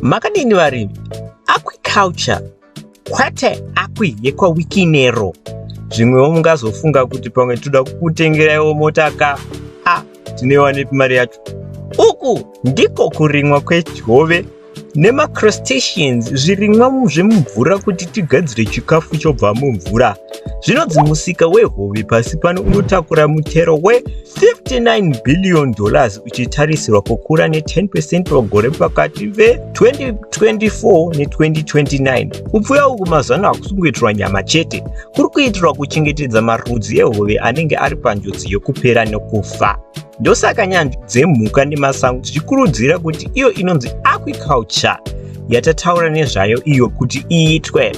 Makadini varimi? Aquiculture kwete akwi yekwawikinero zvimwewo mungazofunga kuti pamwe toda kukutengeraiwo mota ka a tinoiwa nepi mari yacho uku ndiko kurimwa kwehove nemacrostations zvirimwa zvemumvura kuti tigadzire chikafu chobva mumvura Zvinonzi musika wehove pasi pano unotakura mutero we59 billion dollars uchitarisirwa kukura ne10 percent pagore pakati ve2024 ne2029. Kupfuya uku mazuva ano hakusi kungoitirwa nyama chete, kuri kuitirwa kuchengetedza marudzi ehove anenge ari panjodzi yekupera nekufa. Ndosaka nyanzvi dzemhuka nemasango dzichikurudzira kuti iyo inonzi aquiculture yatataura nezvayo iyo kuti iitwe.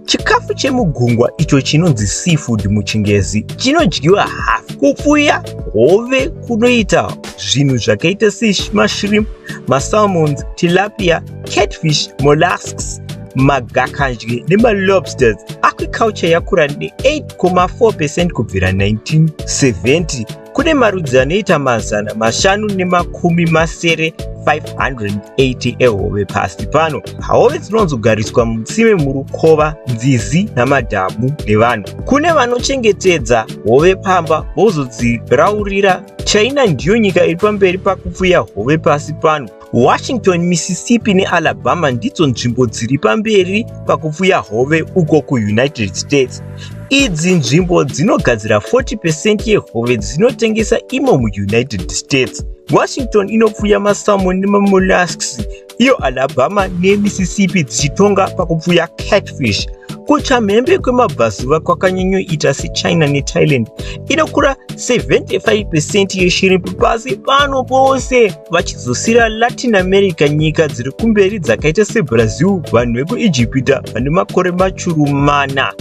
Chikafu chemugungwa icho chinonzi seafood muchingezi chinodyiwa hafu kupfuya hove kunoita zvinhu zvakaita semashrimp, masalmons, tilapia, catfish, mollusks, magakadye nemalobsters aquiculture yakura ne8,4 percent kubvira 1970 Kune marudzi anoita mazana mashanu nemakumi masere 580 ehove pasi pano. Hove dzinozogariswa mutsime murukova, nzizi namadhamu nevanhu. Kune vanochengetedza hove pamba vozodziraurira. China ndiyo nyika iri pamberi pakupfuya hove pasi pano. Washington, Mississippi neAlabama ndidzo nzvimbo dziri pamberi pakupfuya hove uko kuUnited States. Idzi nzvimbo dzinogadzira 40 percent yehove dzinotengesa imo muUnited States. Washington inopfuya masalmon nemamollusks, iyo Alabama neMississippi dzichitonga pakupfuya catfish. Kuchamhembe kwemabvazuva kwakanyanyoita seChina neThailand inokura 75 percent yeshiri pasi pano pose. vachidzosera latin america nyika dziri kumberi dzakaita sebrazil vanhu vekuijipita vane makore machuru mana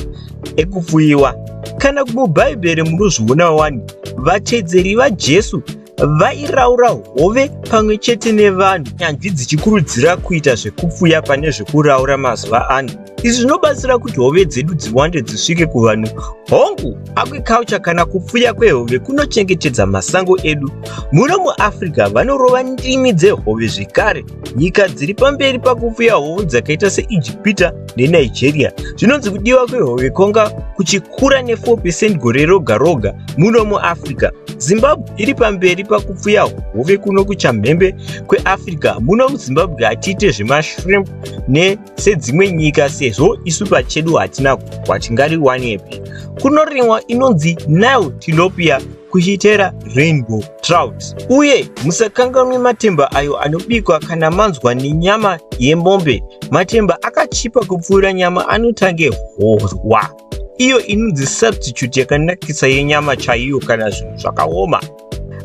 ekupfuyiwa kana kumubhaibheri munozviona wani vatedzeri vajesu vairaura hove pamwe chete nevanhu nyanzvi dzichikurudzira kuita zvekupfuya pane zvekuraura mazuva ano izvi zvinobatsira kuti hove dzedu dziwande dzisvike kuvanhu hongu agriculture kana kupfuya kwehove kunochengetedza masango edu muno muafrica vanorova ndimi dzehove zvekare nyika dziri pamberi pakupfuya hove dzakaita seijipita nenigeria zvinonzi kudiwa kwehove kwanga kuchikura ne4 percent gore roga roga muno muafrica zimbabwe iri pamberi pakupfuya hove kuno kuchamhembe kweafrica muno muzimbabwe hatiite zvemashrimp ne sedzimwe nyika sezvo isu pachedu hatina gupwa tingariwanepi kunorimwa inonzi nile tilopia kuchitera rainbow trout uye musakanganwe matemba ayo anobikwa kana manzwa nenyama yemombe matemba akachipa kupfuura nyama anotange horwa iyo inonzi substitute yakanakisa yenyama chaiyo kana zvinhu zvakaoma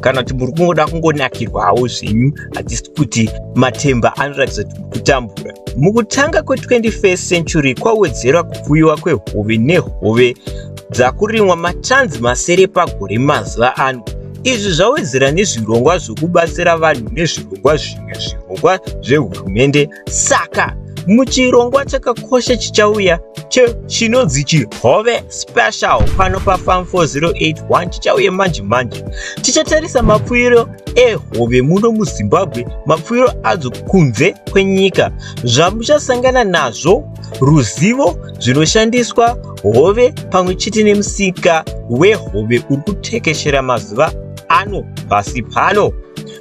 kana kuti muri kungoda kungonakirwawo zvenyu hatisi kuti matemba anoratidza kuti mukutambura mukutanga kwe21st century kwawedzera kupfuyiwa kwehove nehove dzakurimwa matanzi masere pagore mazuva ano izvi zvawedzera nezvirongwa zvokubatsira vanhu nezvirongwa zvimwe zvirongwa zvehurumende Saka muchirongwa chakakosha chichauya chinonzi chihove special pano pafam 4081 chichauya manje manje tichatarisa mapfuiro ehove muno muzimbabwe mapfuiro adzo kunze kwenyika zvamuchasangana nazvo ruzivo zvinoshandiswa hove pamwe chete nemusika wehove uri kutekeshera mazuva ano pasi pano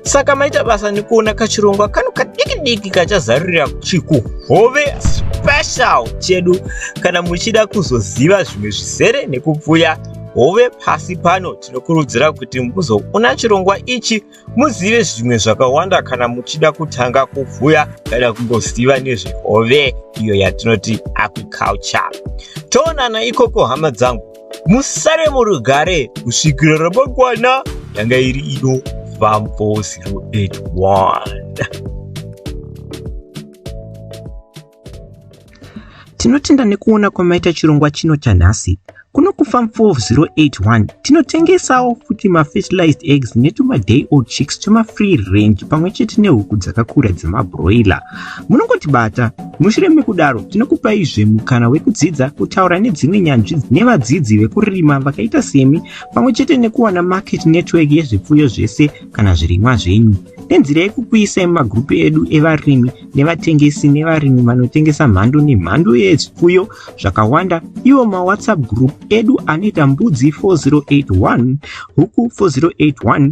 saka maita basa nekuona kachirongwa kano kadiki diki kachazarurira chikuhove special chedu kana muchida kuzoziva zvimwe zvizere nekupfuya hove pasi pano tinokurudzira kuti muzoona chirongwa ichi muzive zvimwe zvakawanda kana muchida kutanga kupfuya kana kungoziva nezvehove iyo yatinoti agriculture toonana ikoko hama dzangu musare murugare kusvikira ramangwana yanga iri ino vampo 081 tinotenda nekuona kwamaita chirongwa chino chanhasi kuno kufam 4081 tinotengesawo futi mafertilized eggs netumaday old chicks twemafree range pamwe chete nehuku dzakakura dzemabroiler munongotibata mushure mekudaro tinokupaizve mukana wekudzidza kutaura nedzimwe nyanzvi nevadzidzi vekurima vakaita semi pamwe chete nekuwana market network yezvipfuyo zvese kana zvirimwa zvenyu nenzira yekukuisai mumagurupu edu evarimi nevatengesi nevarimi vanotengesa mhando nemhando yezvipfuyo zvakawanda iwo mawhatsapp group edu anoita mbudzi 4081 huku 4081